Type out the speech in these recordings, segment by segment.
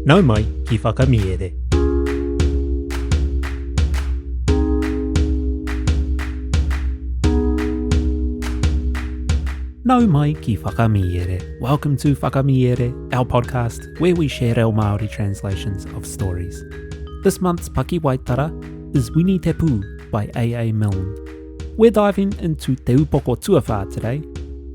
Nau mai ki Whakamiere. Nau mai ki Whakamiere. Welcome to Whakamiere, our podcast where we share reo Māori translations of stories. This month's Pakiwaitara is Wini Te Pū by A.A. Milne. We're diving into Te Upoko Tuawhā today,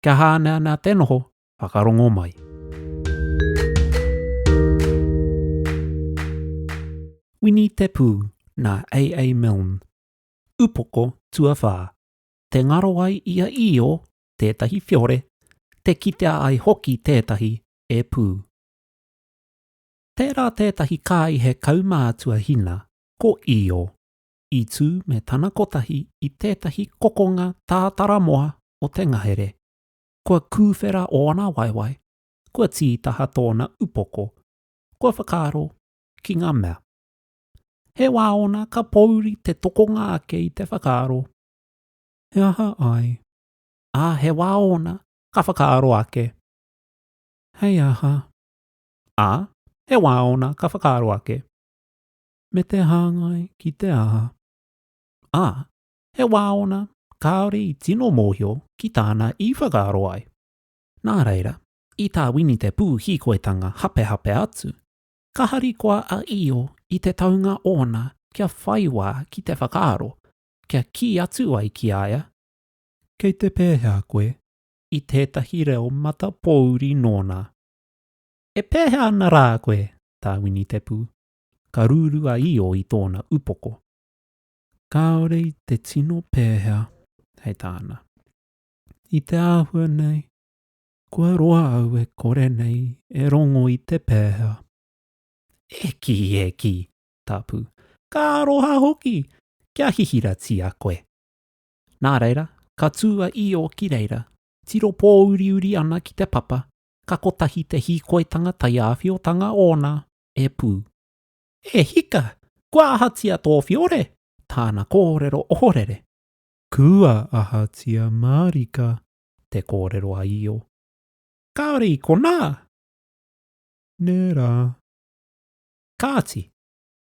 Kia hāneanea te noho, whakarongo mai. Wini Te Pū, nā AA Milne. Upoko tuawhā. Te ngaro ai i a Io tētahi whiore, te kitea ai hoki tētahi e pū. Tērā tētahi kāihe kaumātua hina ko Io. i tū me tana kotahi i tētahi kokonga tātara moa o te ngahere. Kua kūwhera ōna waewae, kua tītaha tōna upoko, kua whakaaro ki ngā mea. He wā ōna ka pōuri te tokonga ake i te whakaaro, He aha ai? Ā, he wā ōna ka whakaaro ake, Hei aha? Ā, he wā ōna ka whakaaro ake, me te hāngai ki te aha. Ā, he wā ōna kāore i tino mōhio ki tāna i whakaaro ai. Nā reira, i tā Wini te pūhīkoitanga hapehape atu, ka harikoa a Io i te taunga ōna kia whai wā ki te whakaaro, kia kī atu ai ki a ia, Kei te pēhea koe i tētahi reo matapōuri nōna? E pēhea ana rā koe, tā Wini te pū, ka ruru a Io i tōna upoko. Kāore i te tino pēhea, hei tāna. I te āhua nei, kua roa au e kore nei e rongo i te pēhea. E kī, e kī, Tapu, ka aroha hoki, kia hihiratia koe. Nā reira, ka tū a Io ki reira, tiro pōuriuri ana ki te papa, ka kotahi te hīkoitanga taiāwhiotanga ōna e pū. E hika! Kua ahatia tō whiore? Tāna kōrero ohorere. Kua ahatia mārika? Te kōrero a Io. Kāore i konā! Nē rā. Kāti,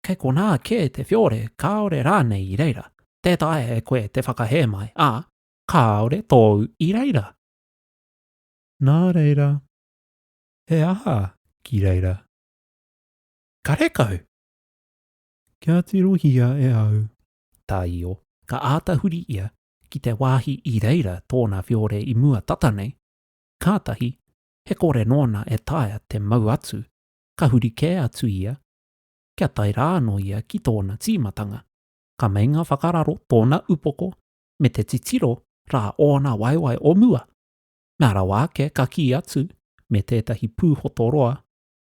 kei konā kē te whiore kāore rānei i reira. Tē taea e koe te whakahē mai, ā, kāore tōu i reira. Nā reira, He aha ki reira? Karekau! Kia tirohia e au tā Io. Ka āta huri ia ki te wāhi i reira tōna whiore i mua tata nei, kātahi, he kore nōna e taea te mau atu, ka huri kē atu ia, kia tae rā anō ia ki tōna tīmatanga. Ka meinga whakararo tōna upoko me te titiro rā ōna waewae o mua. Ngā rawa ake ka kī atu me tētahi pūhoto roa,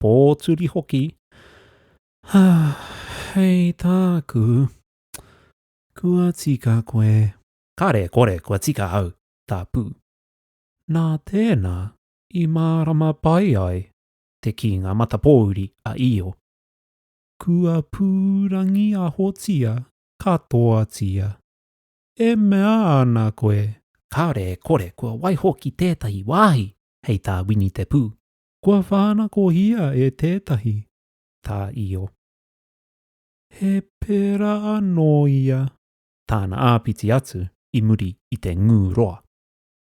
pōturi hoki, Hā, hei tāku, kua tika koe. Kāre e kore kua tika au, tā Pū. Nā tēnā i mārama pai ai te kīnga matapōuri a Io. Kua pūrangiahotia katoatia. E mea ana koe, kāore e kore kua waiho ki tētahi wāhi hei tā Wini Te Pū. Kua whānakohia e tētahi. Tā Io. He pērā anō ia. Tāna āpiti atu i muri i te ngū roa.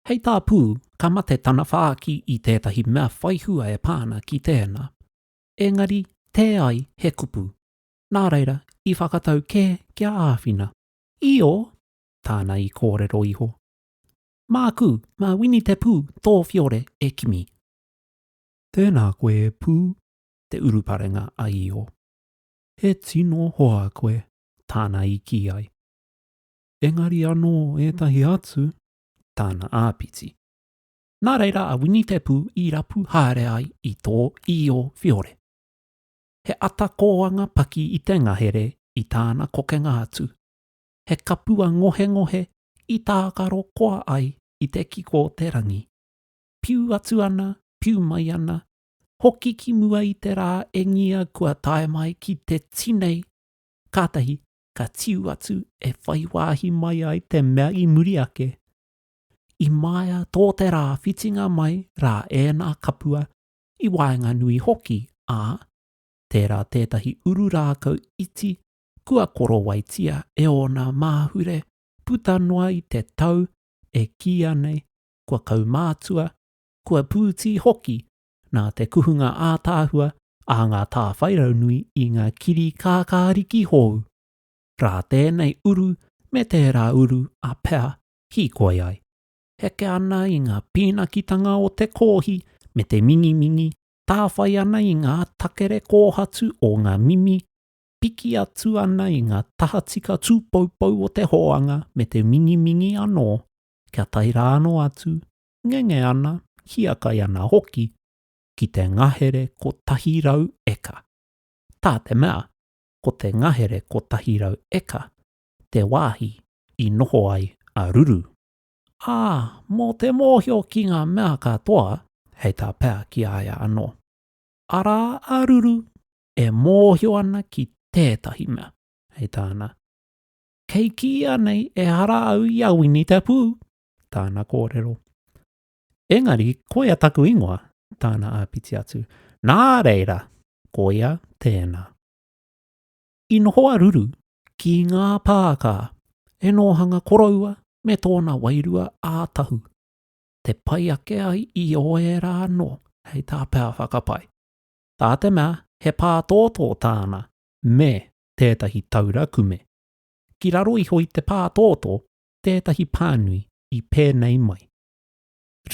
Hei tā Pū, ka mate tana whāki i tētahi mea whaihua e pā ana ki tēnā. Engari, tē ai he kupu. Nā reira, i whakatau kē kia āwhina. Io, tāna i kōrero iho. Māku, mā Winitepū tō whiore e kimi. Tēnā koe e Pū, te uruparenga a Io. He tino hoa koe, tāna i kī ai. Engari anō ētahi atu, tāna āpiti. Nā reira a Winitepū i rapu haere ai i tō Io whiore. He ata kōanga paki i te ngahere i tāna kokenga atu. He kapua ngohengohe i tākaro koa ai i te kiko o te rangi. Piu atu ana, piu mai ana, hoki ki mua i te rā e ngia kua tae mai ki te tinei, kātahi ka tiu atu e whai wāhi mai ai te mea i muri ake. I maea tō te rā whitinga mai rā ēnā kapua i waenganui hoki, ā, tērā tētahi uru rākau iti kua korowaitia e ōna māhure puta noa i te tau e kīia nei kua kaumātua, kua pūtī hoki nā te kuhunga ātaahua a ngā tāwhairaunui i ngā kiri kākāriki hou, rā tēnei uru me tērā uru a Pea hīkoi ai. heke ana i ngā pīnakitanga o te kōhi me te mingimingi, tāwhai ana i ngā takere kōhatu o ngā mimi, piki atu ana i ngā tahatika tūpoupou o te hōanga me te mingimingi anō, kia tae rānō atu, ngenge ana, hiakai ana hoki, ki te ngahere kotahi rau eka. Tā te mea, ko te ngahere kotahi rau eka te wāhi i noho ai a Ruru. ā, mō te mōhio ki ngā mea katoa, hei tā pea ki a ia anō. Arā a Ruru e mōhio ana ki tētahi mea, hei tāna, Kei kīia nei ehara au i a Wini te Pū, tāna kōrero. Engari koia taku ingoa, tāna āpiti atu. Nā reira, koia tēnā. I noho a Ruru ki ngā pākā e nōhanga koroua me tōna wairua ā Tahu, te pai ake ai i ōērā anō hei tā Pea whakapae. Tā te mea he pātōtō tāna me tētahi taura kume. Ki raro iho i te pātōtō tētahi pānui i pēnei mai.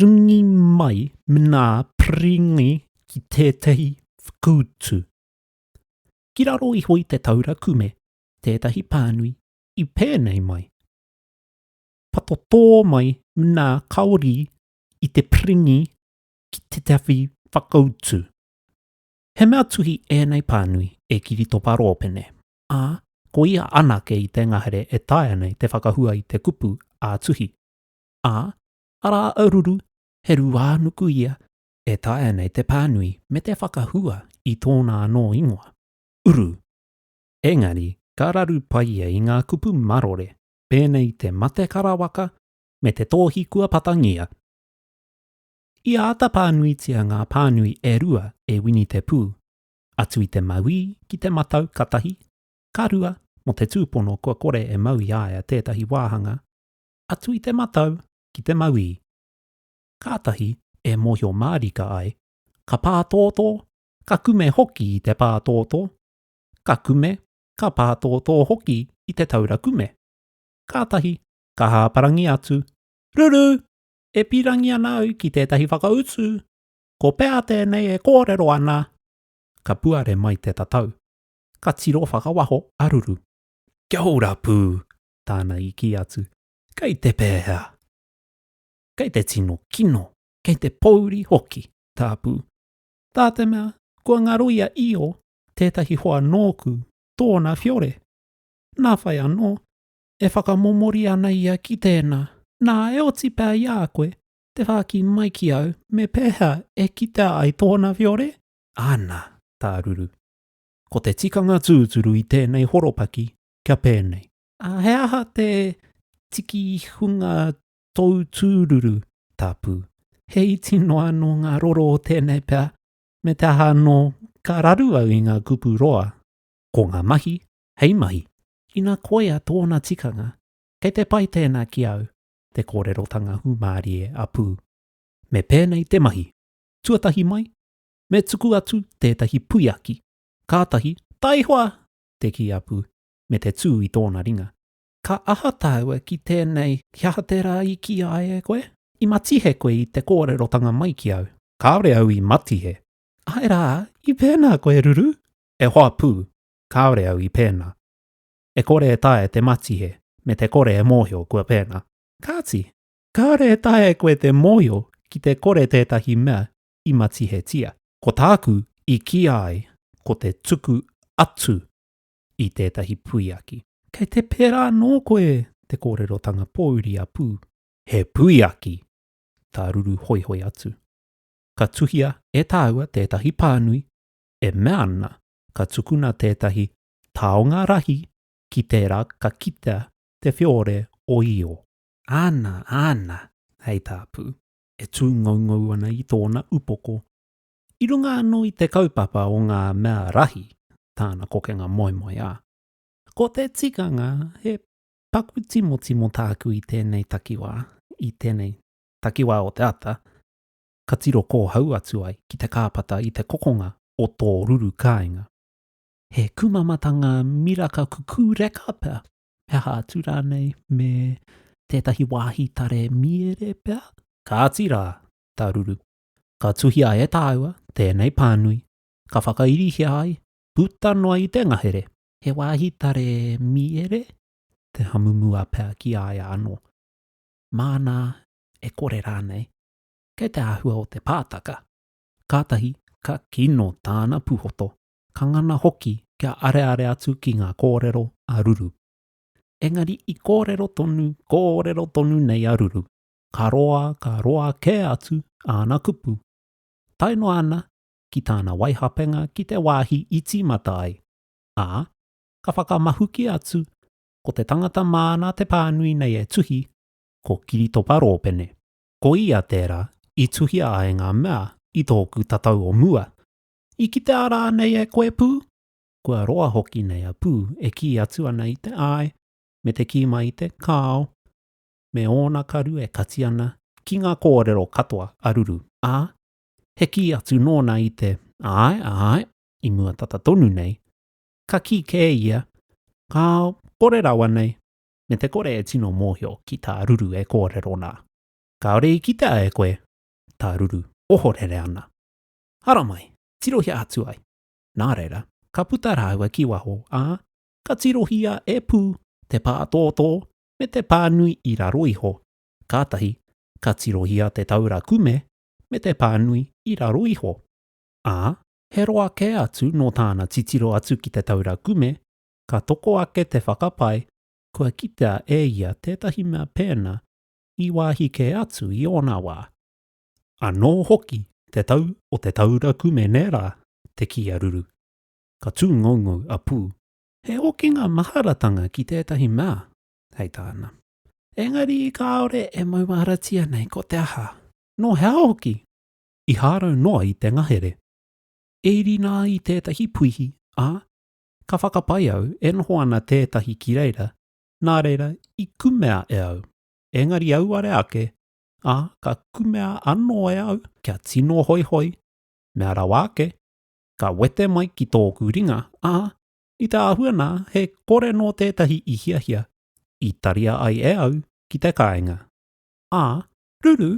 Ringi mai mnā pringi ki tētahi whkutu. Ki raro iho i te taura kume tētahi pānui i pēnei mai, Patotō mai nā Kaorī i te piringi ki te tawhi whakautu. He mea tuhi ēnei pānui e Kiritopa Rōpene, ā, ko ia anake i te ngahere e taea nei te whakahua i te kupu ā-tuhi. Ā, arā a Ruru, he ruānuku ia e taea nei te pānui me te whakahua i tōna anō ingoa, uru. Engari, ka raru pai ia i ngā kupu marore, pēnei i te mate karawaka me te tōhi kua patangia. I āta pānuitia ngā pānui e rua e Wini Te Pū, atu i te mauī ki te matau ka tahi, ka rua mō te tūpono kua kore e mau i a ia tētahi wāhanga, atu i te matau ki te mauī. kātahi e mōhio mārika ai, ka pātōtō, ka kume hoki i te pātōtō, ka kume, ka pātōtō hoki i te taura kume. Kātahi, ka hāparangi atu, Ruru! E pīrangi ana au ki tētahi whakautu! Ko pea tēnei e kōrero ana? Ka puare mai te tatau. Ka tiro whakawaho a Ruru. Kia ora pū! tāna i kī atu. Kei te pēhea? kei te tino kino, kei te pōuri hoki, tāpū. Tā te mea, kua ngaro i a Io tētahi hoa nōku, tōna whiore. Nā whai anō, e whakamomori ana ia ki tēnā, nā e oti pea i a koe te whāki mai ki au me pēhea e kitea ai tōna whiore? Ana, tā Ruru. Ko te tikanga tūturu i tēnei horopaki kia pēnei. He aha te tikihunga tōu tūruru, tāpū. He iti noa anō ngā roro o tēnei pea, me te aha anō, ka raru au i ngā kupu roa. Ko ngā mahi, hei mahi. Ina koia tōna tikanga, kei te pai tēnā ki au, te kōrerotanga hūmārie a Pū. Me pēnei te mahi. Tuatahi mai, me tuku atu tētahi puiaki. Kātahi, taihoa! te kī a Pū, me te tū i tōna ringa. Ka aha tāua ki tēnei, ki aha tērā i kīia ai e koe? I matihe koe i te kōrerotanga mai ki au? Kāore au i matihe. Āe rā, i pēnā koe, Ruru? E hoa pū, kāore au i pēnā. E kore e taea te matihe, me te kore e mōhio kua pēnā. Kāti, kāore e taea koe te mōhio ki te kore tētahi mea i matihetia. Ko tāku i kīia ai, ko te tuku atu. i tētahi puiaki. Kei te pērā anō koe te kōrerotanga pōuri a Pū. He puiaki! tā Ruru hoihoi atu. Ka tuhia e tāua tētahi pānui e mea ana ka tukuna tētahi taonga rahi ki tērā ka kitea te whiore o Io. Ana, ana! hei tā Pū, e tūngoungou ana i tōna upoko. I runga anō i te kaupapa o ngā mea rahi tāna kokenga moemoe a. Ko te tikanga he paku timotimo tāku i tēnei takiwā, i tēnei takiwā o te ata, ka tiro kōhau atu ai ki te kāpata i te kokonga o tō ruru kāinga. He kumamata ngā miraka kukū reka pea, he aha atu rānei me tētahi wāhi tare mīere pea? Kāti rā, tā Ruru, ka tuhia e tāua tēnei pānui, ka whakairihia ai, puta noa i te ngahere, he wāhi tare mīere te hamumua pea ki a ia anō. Māna e kore rānei, kei te āhua o te pātaka. Kātahi ka kino tāna pūhoto, ka ngana hoki kia areare atu ki ngā kōrero a Ruru. Engari i kōrero tonu, kōrero tonu nei a Ruru, Ka roa, ka roa kē atu āna kupu, tae noa ana ki tāna waihapenga ki te wāhi i tīmata ai, ā, ka whakamahuki atu ko te tangata māna te pānui nei e tuhi, ko Kiritopa Rōpene. Ko ia tērā i tuhia ai ngā mea i tōku tatau o mua. I kitea rānei e koe, Pū? Kua roa hoki nei a Pū e kī atu ana i te āe me te kī mai i te kāo. me ōna karu e kati ana ki ngā kōrero katoa a Ruru, ā, he kī atu nōna i te, Āe, āe, i mua tata tonu nei, ka kī kē ia, Ka kore rawa nei, me te kore e tino mōhio ki tā Ruru e kōrero nā. Kāore i kitea e koe tā Ruru ohorere ana. Haramai, tirohia atu ai! Nā reira, ka puta rāua ki waho, ā, ka tirohia e Pū te pātōtō me te pānui i raro iho, kātahi ka tirohia te taura kume me te pānui i raro iho, ā, he roa kē atu nō tāna titiro atu ki te taura kume, ka toko ake te whakapae kua kitea e ia tētahi mea pēnā i wāhi kē atu i ōna wā. Anō hoki te tau o te taura kume nē rā te kīaruru, ka tūngoungou a Pū. He hokinga maharatanga ki tētahi mea, hei tāna. Engari kāore e mauāratia nei ko te aha, nō hea hoki? I hārau noa i te ngahere. E iri nā i tētahi puihi, ā, ka whakapae au e noho ana tētahi ki reira, nā reira i kumea e au. Engari auare ake, ā, ka kumea anō e au kia tino hoihoi, mea rawa ake, ka wete mai ki tōku ringa, ā, i te āhua nā, he kore nō tētahi i hiahia, i taria ai e au ki te kāinga. Ā, ruru,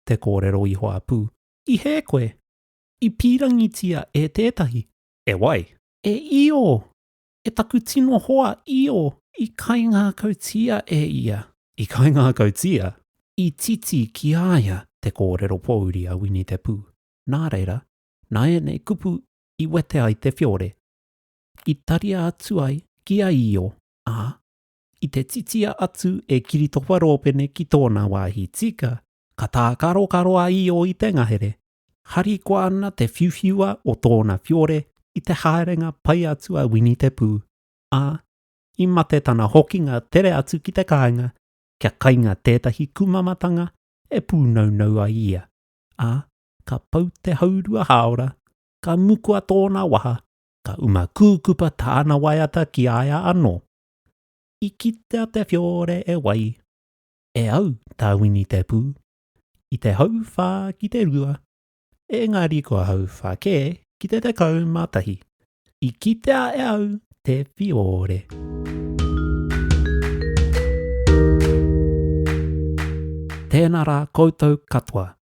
te kōrero i hoapū, i hē koe? I pīrangitia e tētahi. E wai? E Io! E taku tino hoa, Io! I kaingākautia e ia. I kaingākautia? I titi ki a ia te kōrero pōuri a Wini te Pū, nā reira, nā ēnei kupu i wete ai te whiore, i taria atu ai ki a Io, ā, i te titia atu e Kiritopa Rōpene ki tōna wāhi tika, ka tākarokaro a Io i te ngahere, harikoa ana te whiuwhiua o tōna whiore i te haerenga pai atu a Wini Te Pū, ā, i mate tana hokinga tere atu ki te kāinga kia kainga tētahi kumamatanga e pūnaunau ai ia, ā, ka pau te haurua hāora, ka mukua tōna waha, ka uma kūkupa tāna waiata ki a ia anō. I kitea te whiore e wai, e au tā Wini te pū, i te hauwhā ki te rua, engari kua hauwhā kē ki te tekau mā tahi. I kitea e au te whiore. Tēnā rā koutou katoa.